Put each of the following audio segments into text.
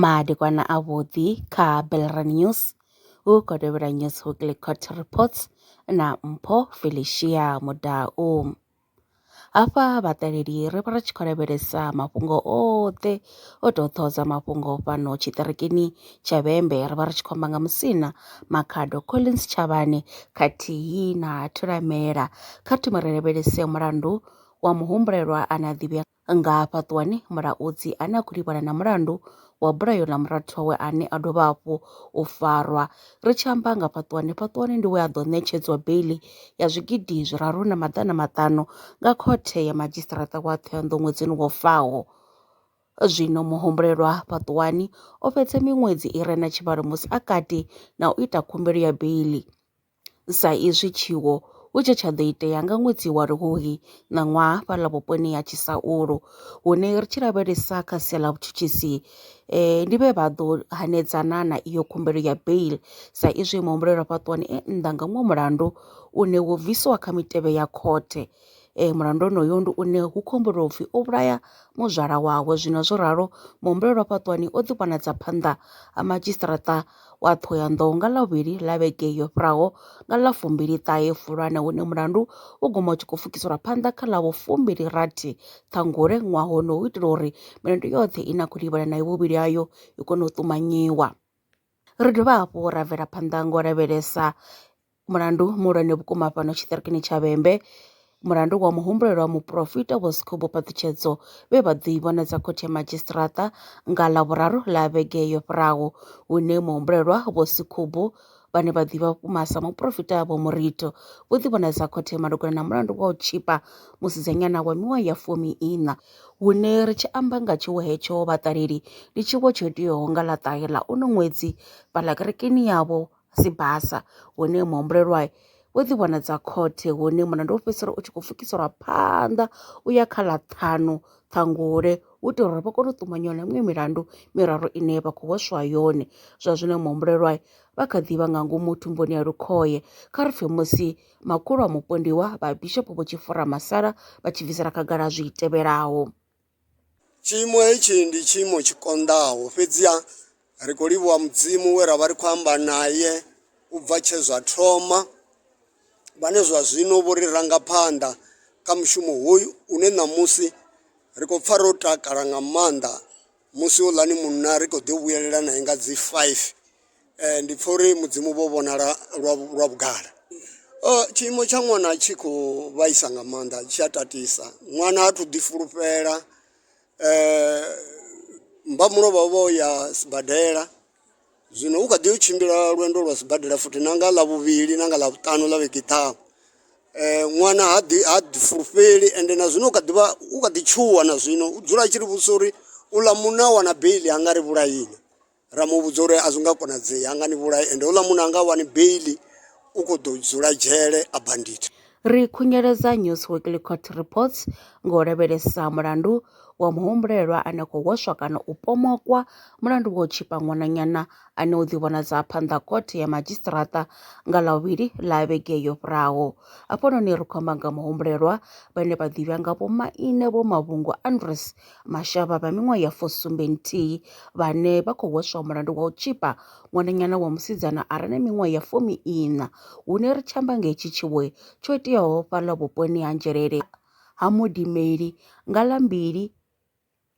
Madekwana a vhuḓi kha Belre News hu khou tevhela News Weekly Court Reports na Mpho Felicia Mudau. Hafha vhaṱaleli ri vha ri tshi khou lavhelesa mafhungo oṱhe. O tou ṱhohodza mafhungo fhano tshiṱirikini tsha Vhembe ri vha ri tshi khou amba nga Musina Makhado Collins Tshavhane khathihi na Thulamela. Kha thome ri lavhelese mulandu wa muhumbulelwa ane a ḓivhea nga hafha ṱuwani mulaudzi ane a khou livhana na mulandu wa bulayo ḽa murathu wawe ane a dovha hafhu u farwa ri tshi amba nga fhaṱuwani fhaṱuwani ndi we a ḓo ṋetshedzwa beili ya zwigidi zwiraru na maḓana maṱanu nga khothe ya madzhisiṱaraṱa wa ṱhohoyanḓou ṅwedzini wo faho Zwino muhumbulelwa fhaṱuwani o fhedza miṅwedzi i re na tshivhalo musi a kati na u ita khumbelo ya beiḽi. Sa izwi tshiwo hu tshe tsha ḓo itea nga ṅwedzi wa Luhuhi ṋaṅwaha fhaḽa vhuponi ha Tshisaulu hune ri tshi lavhelesa kha sia ḽa vhutshutshisi ndi vhe vha ḓo hanedzana na iyo khumbelo ya beiḽi sa izwi muhumbulelwa fhaṱuwani e nnḓa nga muṅwe mulandu une wo bvisiwa kha mitevhe ya khothe um mulandu onoyo ndi une hu khou humbulelwa upfhi o vhulaya muzwala wawe zwino zwo ralo muhumbulelwa fhaṱuwani o ḓi vhonadza phanḓa ha madzhisiṱaraṱa wa Ṱhohoyanḓou nga Ḽavhuvhili ḽa vhege yo fhiraho nga ḽa fumbili ṱahe Fulwana hune mulandu u guma u tshi khou pfukiselwa phanḓa kha ḽa vhufumbili rathi Ṱhangule ṅwaha hono u itela uri milandu yoṱhe ine a khou livhana nayo vhuvhili hayo i kone u ṱumanyiwa. Ri dovha hafhu ra bvela phanḓa nga u lavhelesa Mulandu muhulwane vhukuma fhano tshiṱirikini tsha Vhembe, mulandu wa muhumbulelwa wa muporofita Vho Sekhubu Phaṱhutshedzo vhe vha ḓo i vhonadza khothe ya madzhisiṱiraṱa nga Ḽavhuraru ḽa vhege yo fhiraho, hune muhumbulelwa Vho Sekhubu vhane vha ḓivha vhukuma sa muporofita Vho Murito vho ḓi vhonadza khothe malugana na mulandu wa u tshipa musidzanyana wa miṅwaha ya fumi iṋa. Hune ri tshi amba nga tshiwo hetsho vhaṱaleli, ndi tshiwo tsho iteaho nga ḽa ṱahe ḽa uno ṅwedzi fhaḽa kerekeni yavho si basa hune muhumbulelwa wo ḓi vhona dza khothe hune mulandu wo fhedzisela u tshi khou pfukiselwa phanḓa u ya kha ḽa ṱhanu ṱhangule u itela uri vha kone u ṱumanywa na miṅwe milandu miraru ine vha khou hweswa yone zwa zwino muhumbulelwa vha kha ḓivha nga ngomu thumbuni ya lukhoye kha ri pfhe musi makhulu a mupondiwa vha bishopo vho tshi fura masala vha tshi bvisela khagala zwi tevhelaho Tshiimo hetshi ndi tshiimo tshi konḓaho, fhedziha ri khou livhuwa Mudzimu we ra vha ri khou amba nae u bva tshe zwa thoma, vhane zwa zwino vho ri ranga phanḓa kha mushumo hoyu une ṋamusi ri khou pfa ro takala nga maanḓa musi houḽani munna ri khou ḓo vhuyelela nae nga dzi 5. Ndi pfha uri mudzimu vho vhonala lwa lwa vhugala. Tshiimo tsha ṅwana tshi khou vhaisa nga maanḓa tshi a tatisa ṅwana ha thu ḓi fulufhela mmba mulovha vho ya sibadela zwino u kha ḓi yo tshimbila lwendo lwa sibadela futhi na nga ḽavhuvhili na nga ḽavhutanu ḽa vhege i ḓaho. Ṅwana ha ḓi ha ḓi fulufheli ende na zwino u kha ḓivha u kha ḓi tshuwa na zwino u dzula a tshi ri vhudzisa uri u ḽa muṋe a wana beiḽi a nga ri vhulaya inwi. ra mu vhudza uri a zwi nga konadzei ha nga ni vhulai ende houḽa munna anga wani beili u khou ḓo dzula dzhele a bandit Ri khunyeledza News Weekly Court Reports nga u lavhelesa mulandu wa muhumbulelwa ane khou hweswa kana u pomokwa mulandu wa u tshipa ṅwananyana ane u ḓivhonadza phanḓa khothe ya madzhisiṱiraṱa nga Ḽavhuvhili ḽa vhege yo fhiraho. Hafhanoni ri khou amba nga muhumbulelwa vhane vha ḓivhea nga Vho Maine Vho Mavhungu Andres Mashavha vha miṅwaha ya fusumbe nthihi vhane vha khou hweswa mulandu wa u tzhipa ṅwananyana wa musidzana a re na miṅwaha ya fumi iṋa hune ri tshi amba nga hetshi tshiwe tsho iteaho fhaḽa vhuponi ha Nzhelele ha Modimeli nga ḽa mbili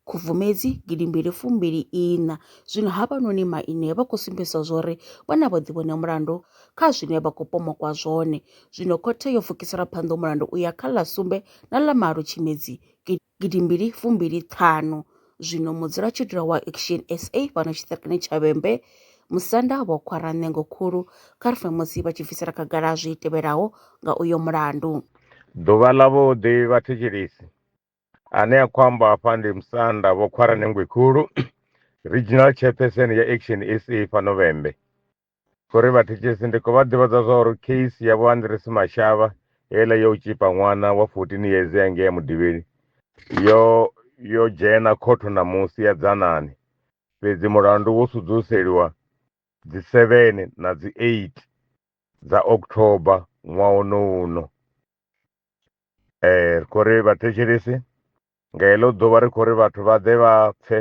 Khubvumedzi gidi mbili fumbili iṋa. Zwino havhanoni maine vha khou sumbedzisa zwori vha na vhuḓivhone mulandu kha zwine vha khou pomokwa zwone. Zwino khothe yo pfukisela phanḓa mulandu u ya kha ḽa sumbe na ḽa malo Tshimedzi gidi gidimbili fumbili ṱhanu. Zwino mudzulatshidulo wa Action SA fhano tshiṱirikini tsha Vhembe, musanda vho khwara ṋengo khulu kha ri pfe musi vha tshi bvisela khagala zwi tevhelaho nga uyo mulandu. Ḓuvha ḽa vhuḓi vhathetshelesi, ane a khou amba afha ndi musanda vho khwara ṋengwe khulu, Regional Chairperson ya Action SA fhano Vhembe. Sorry vhathetshelesi ndi khou vha ḓivhadza zwa uri case ya vho Andres Mashava heiḽa yo u tshipa ṅwana wa 14 years ya ngea mudivhini yo yo dzhena khotho ṋamusi ya dzanani fhedzi mulandu wo sudzuseliwa dzi 7 na dzi 8 dza October ṅwaha uno uno eh ri khou ri vhathetshelesi nga heḽo ḓuvha ri khou ri vhathu vha ḓe vha pfe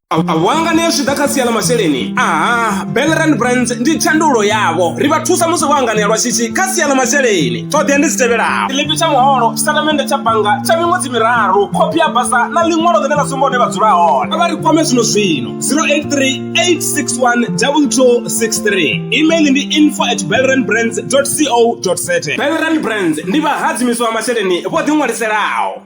vhanga ne zwi ḓa kha sia ḽa masheleni aha belrand brands ndi tshandulo yavho ri vha thusa musi vho anganea lwa shishi kha sia ḽa masheleni ṱhoḓea ndi dzi tevhelaho tshiḽipi tsha muholo tshitatamennde tsha bannga tsha miṅwedzi miraru khophi ya basa na ḽiṅwalo ḽine ḽa sumba hune vha dzula hone vha ri kwame zwino zwino 0838612263 email ndi info at belrand brands co za belrand brands ndi vhahadzimiswa masheleni vho ḓiṅwaliselaho